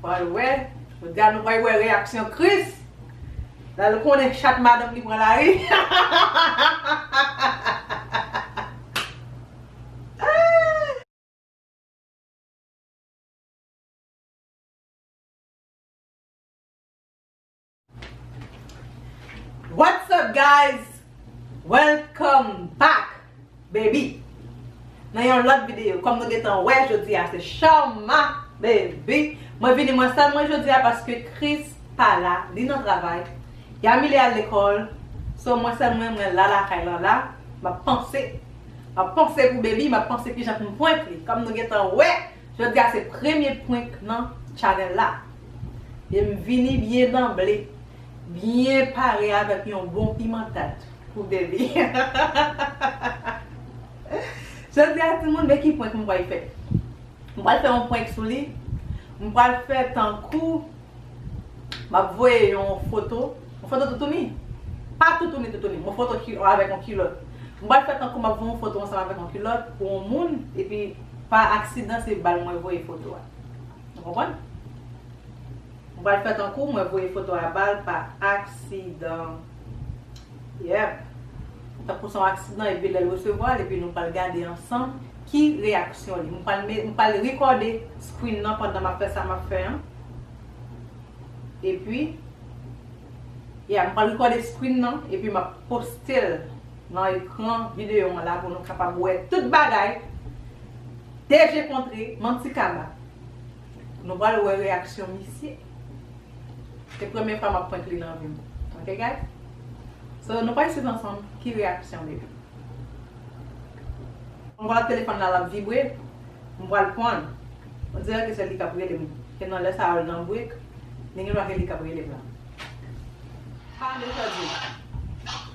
Wal wè, jodi a nou pral wè reyaksyon Chris. Lal konnen chat madanm li pran lari. What's up guys welcome back baby nan yon lòt videyo kòm nou gentan wè jodi a se Sharma baby mwen vini mwen sèl mwen jodi a paske Chris pa la li nan travay Yamile al lekòl so mwen sèl mwen mwen la lakay lan la map panse map panse pou baby map panse kijan poum prank li kòm nou gentan wè. Jodi a se premye prank nan channel la e m vini byen danble, byen pare avèk yon bon piman tat pou Debby hahahahaha Jodi a timoun men ki prank m pral fè m pral fè yon prank sou li m pral fè tankou Map voye yon foto Yon foto toutouni Pa toutouni toutouni Yon foto avèk yon kilòt Mwen pral fè tankou map voye yon foto ansanm avèk yon kilòt pou yon moun Epi pa aksidan se bal mwen voye foto a Nou konprann? Mwen pral fè tankou mwen voye foto a bal pa aksidan. Yep. Tankou son aksidan epi lèl resevwa l epi nou pral gade ansanm ki reyaksyon li. M pral met m pral rekòde screen nan pandan map fè sa map fè an. Epi Yeah m pral rekòde screen nan epi map poste l nan ekran videyo an la pou nou kapab wè tout bagay deje kontre manti kaba. Nou pral wè reyaksyon misye. Se premye fwa map prank li nan vim ok guys So nou pral swiv ansanm ki reyaksyon baby. M wè telefòn la lap vibre m pral pranl on dirè ke se li kap relem ke nan lè sa yo l nan break li gen dwa ke li kap relem la. Pale jodi.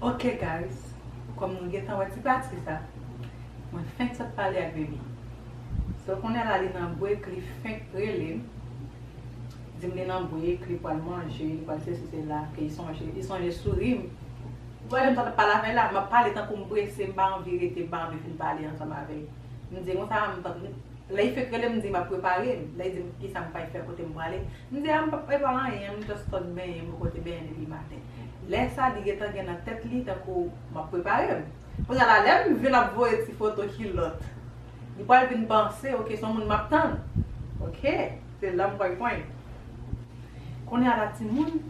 Ok guys kom nou gentan wè ti pati sa mwen fenk sot pale ak baby so kounye la li nan break li fenk relem dim li nan break li pwal manje li pwal sesi sela ke li sonje sourim wè jan m sot ap pale avèl la map pale tankou m prese m pa anvi rete m pa anvi fin pale ansanm avèl. M di l konsa, m pa m lè Ifek rele m m di l m ap prepare m, lè l di m kisa m fèk fè, kote m prale, m di a m pa p prepare anyen, m just konn benyen, m pote benyen depi maten. Lè sa li gentan gen nan tèt li tankou m ap prepare m. Kounye a la lè m vin ap voye ti foto kilòt, li pral vin panse ok se yon moun m ap tann, ok se la m pral pwen. Kounye a la timoun,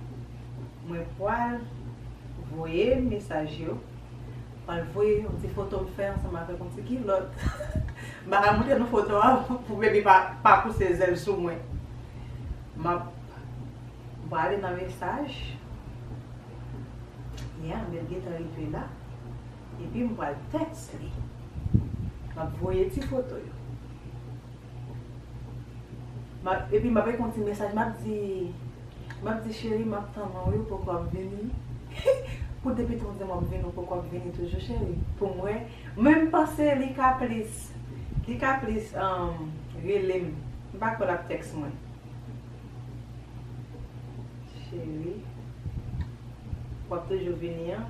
mwen pral voye mesaj yo. Mwen voye yon ti foto m fè ansanm avèk yon ti kilòt. M pa ka montre nou foto a pou Baby pa pouse zèl sou mwen. M ap prale nan mesaj. Ya, men l gentan rive la. Epi m pral tèks li. M ap voye ti foto yo. Map epi map reponn ti mesaj map di map di cheri map tann ou wi ou poko ap vini pou depi tou dim wap vini ou poko ap vini toujou cheri poum wè menm panse li ka plis li ka plis relem m pa kwè lap tèks mwen cheri wap toujou vini an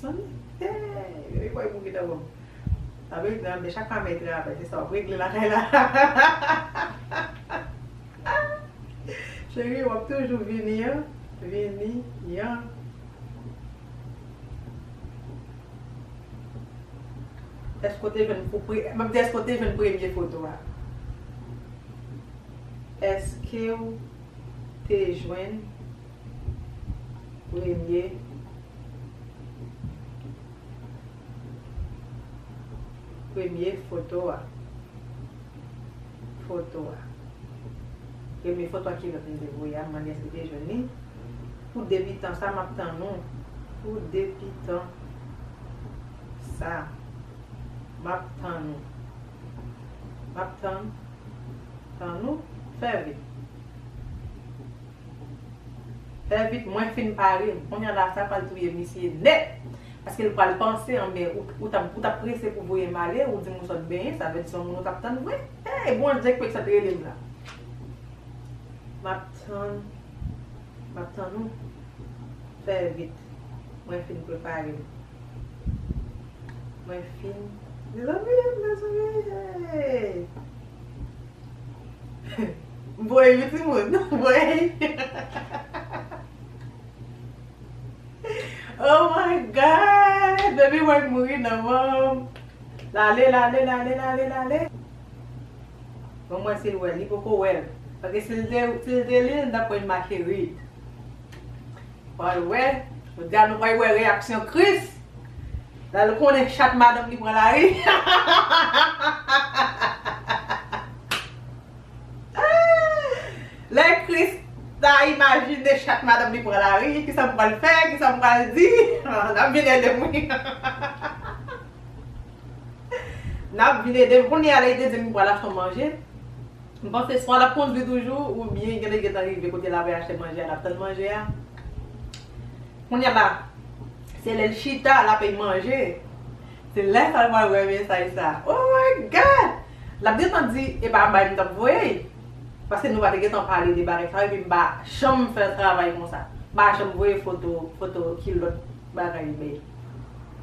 san eeyy gade kòy pou ki ta bon. Sa vle di nan de chak fanm e travay se sa wap regle lakay la hahahahaha Cherie wap toujou vini an vini an. Eske w te jwenn pou pre map di eske w te jwenn premye foto a eske w te jwenn premye. Premye foto a Foto a Premye foto a Kilòt m te voye a m mande èske m te jwenn li Pou debitan sa m ap tann ou Pou debitan sa m ap tann ou M ap tann Tann ou Fè vit. Vèvit mwen fin parem konya la sa pral touye misye nèt paskel pral panse anben ou tap prese pou voyem ale ou dim ou sot benyen sa vle di son moun ou tap tann vre hey bondye kwek sot relem la map tann map tann ou fè vit mwen fin preparem mwen fin mezanmi mezanmi hey. Voye wi ti moun. Voye. Oh my God. Baby Marc mouri nan mom. Lale lale lale lale lale. Bon mwen sil wèl. Li poko wèl. Paske sil te sil te lil li tap wè make read. Pral wè. Jodia nou pral wè reyaksyon Chris. Lal konnen chat madanm li pran lari Lè Christ ta imajine chat madanm li pran lari kisa m pral fè kisa m pral di Nap vin edem wi Nap vin edem Kounya lè li te dim li pral achte manje M panse swa lap kondwi toujou oubyen genlè gentan rive kote lap achte manje a lap tann manje a Kounya la Se lèl chita lap ey manje. Se lè sa l pral wè mesaj sa. Oh my God! Lap gentan di e pa bay m tap voyey. Paske nou pa te gentan pale de bagay sa yo epi m pa janm fè travay konsa. M pa janm voye foto foto kilòt bagay bèy.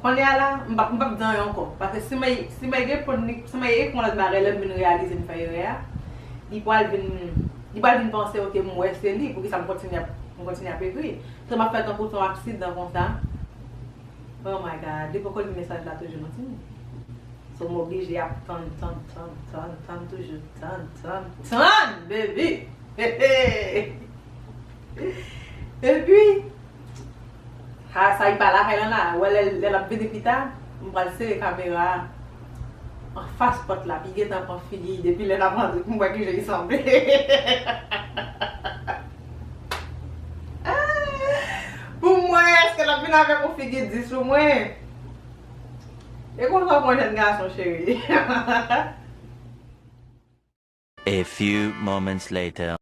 Kounye a la m pap m pap dan ankò. Paske si mey si mey gen pon ni si mey ekon lòt bagay lè m vin reyalize m fè erè a li pral vin li pral vin panse ok m wè se li poukisa m kontinye ap m kontinye ap ekri. Tanm ap fè tankou son aksidan konsa oh my God li poko li mesaj la toujou non timoun so m oblije ap tann tann tann tann tann toujou tann tann tann baby hehe epi ha sa li pa lakay lan la ou wè lè lap vini pita m pral sere kamera a anfas pòt la pi gentan pran figi depi lè lap antre pou m wè kijan li sanble hehehehe. Pou mwen eske lap vin avek yon figi di sou mwen E konsa w pran jen gason cheri. A few moments later.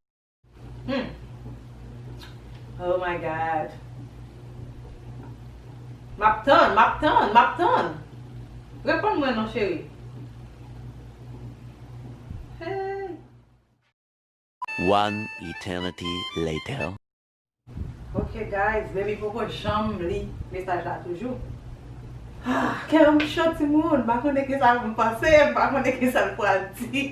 Humm oh my god Map tann map tann map tann Reponn mwen non cheri Hey. One eternity later. Ok guys baby poko janm li mesaj la toujou ah kèm cho timoun mpa konnen kisa poum panse mpa konnen kisal pral di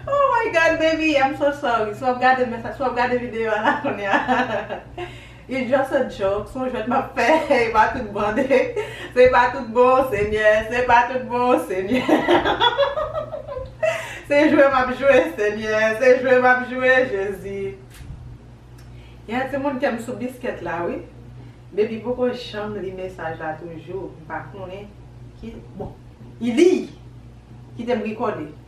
oh my God baby I'm so sorry si wap gade mesaj si wap gade video a la kounya. It's just a joke, son jwèt map fè, e pa tout bande, se pa tout bon senyè, se pa tout bon senyè, se jwe map jwe senyè, se jwe map jwe jezi, gen yon ti moun kèm sou biskèt la wi, baby poko janm li mesaj la toujou, mpa konnen ki, bon, ilii! Kitem rikòde.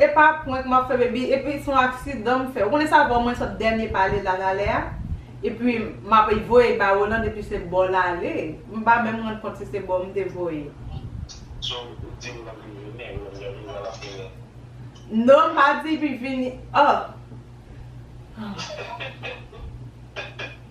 Epa prank map fè baby epi son aksidan m fè ou konnen sa bò mwen sot dènye pale la talè a epi map voye ba Roland epi se bò lale m pa menm rann kont si se bò m te voye. So ou di Roland pou l vini Roland gen bezwen l ap vini. Non m pa di li vini ohh.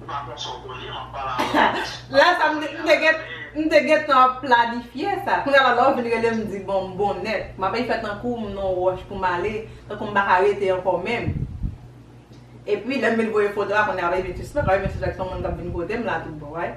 Ou pa konn sa w konnen, map pale avè w de sou Lala sa m te gen m te gentan ap planifye sa kounya Lala w vin rele m di bon m bon nèt m ape fè tankou m nan yon wòch pou m ale tankou m pa ka rete ankò menm epi lè m vin voye foto a kounya ape vin sispèk ape vin sispèk son moun kap vin kote m la tout bon right.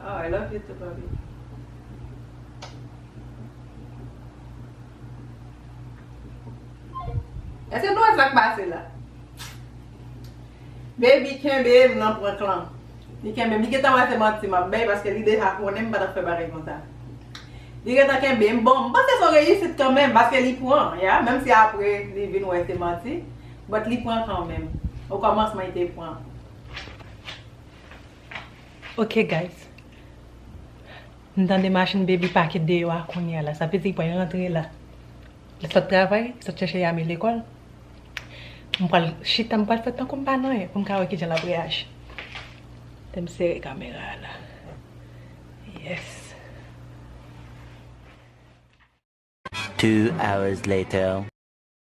Aww I love you too papi. Eske nou wè sak pase la. Baby kenbe m nan prank lan. Li kenbe m. Li gentan wè se manti map bay paske li deja konnen m pa tap fè bagay konsa. Li gentan kenbe m. Bon m panse son reyisit kanmenm paske li pran ya. Menm si apre li vin wè se manti. But li pran kanmenm. Okòmansman li te pran. Ok guys M tande machin baby pake deyò a kounya la sa vle di li pral rantre la li sot travay li sot chèche Yamie lekòl m pral chita m pral fè tankou m pa nan anyen pou m ka wè kijan lap reyaji Tè m sere kamera a la Yes 2 hours later.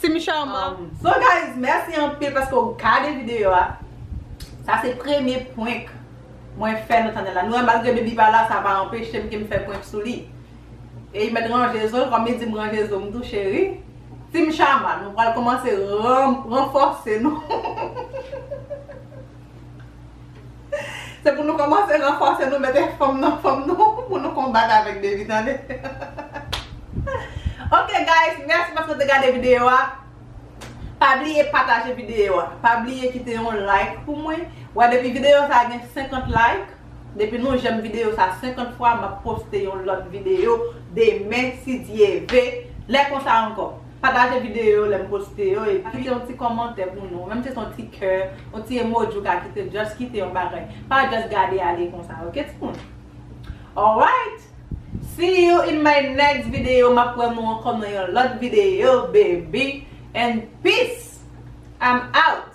Team Sharma. So guys merci anpil paske ou gade video a Sa se premye prank mwen fè nou tande la Nou wè malgre baby pa la sa pa anpechem kem fè prank sou li Eyy mèt ranje zo l kòm li dim ranje zo m tou cheri Team Sharma nou pral kòmanse ranfòse nou Se pou nou komanse ranfòse nou mete fanm nan fanm nou pou nou konbat avèk Davy tande Ok guys mèsi paske nou te gade videyo a Pa bliye pataje videyo a Pa bliye kite yon like pou mwen Wè depi videyo sa gen 50 like Depi nou jèm videyo sa 50 fwa map poste yon lòt videyo demen si Dye ve Lè konsa ankò. Pataje videyo yo lè m poste yo epi kite yon ti kòmantè pou nou menm si se yon ti kè yon ti emoji ou ka kite just kite yon bagay pa just gade ale konsa ok timoun alright see you in my next video map wè nou ankò nan yon lòt videyo baby and peace I'm out.